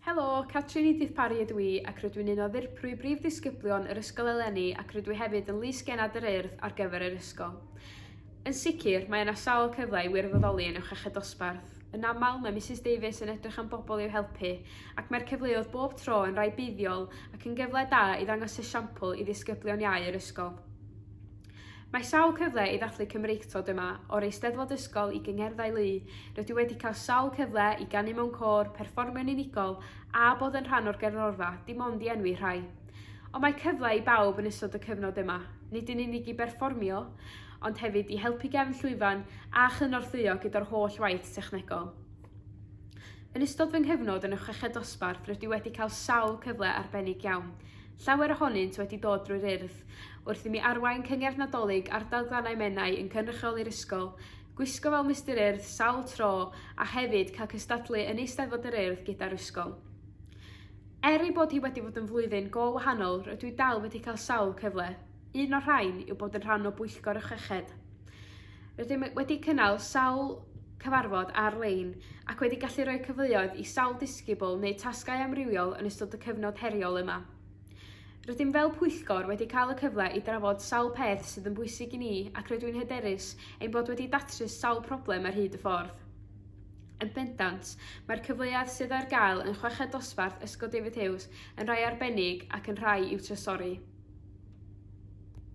Helo, Catrin Edith Parry ydw i ac rydw i'n un o ddirprwy brif ddisgyblion yr ysgol eleni ac rydw i hefyd yn Lys Genad yr Urdd ar gyfer yr ysgol. Yn sicr, mae yna sawl cyfle i wirfoddoli yn Uwch Dosbarth. Yn aml, mae Misus Davies yn edrych am bobl i'w helpu, ac mae'r cyfleoedd bob tro yn rai buddiol ac yn gyfle da i ddangos esiampl i ddisgyblion iau yr ysgol. Mae sawl cyfle i ddathlu Cymreictod yma, o'r Eisteddfod Ysgol i gyngerddau lu. Rydw i wedi cael sawl cyfle i ganu mewn côr, perfformio'n unigol, a bod yn rhan o'r gerddorfa, dim ond i enwi rhai. Ond mae cyfle i bawb yn ystod y cyfnod yma, nid yn unig i berfformio, ond hefyd i helpu gefn llwyfan a chynorthwyo gyda'r holl waith technegol. Yn ystod fy nghyfnod yn y Chweched Dosbarth rydw i wedi cael sawl cyfle arbennig iawn, Llawer ohonynt wedi dod drwy'r Urdd. Wrth i mi arwain Cyngerdd Nadolig ardal Glannau Menai yn cynrychioli'r ysgol, gwisgo fel Mister Urdd sawl tro a hefyd cael cystadlu yn Eisteddfod yr Urdd gyda'r ysgol. Er ei bod hi wedi fod yn flwyddyn go wahanol, rydw i dal wedi cael sawl cyfle. Un o'r rhain yw bod yn rhan o Bwyllgor y Chweched. Rydym wedi cynnal sawl cyfarfod ar-lein ac wedi gallu rhoi cyfleoedd i sawl disgybl neu tasgau amrywiol yn ystod y cyfnod heriol yma. Rydym fel pwyllgor wedi cael y cyfle i drafod sawl peth sydd yn bwysig i ni ac rydw i'n hyderus ein bod wedi datrys sawl problem ar hyd y ffordd. Yn bendant, mae'r cyfleoedd sydd ar gael yn chweched dosbarth Ysgol David Hughes yn rhai arbennig ac yn rhai i'w trysori.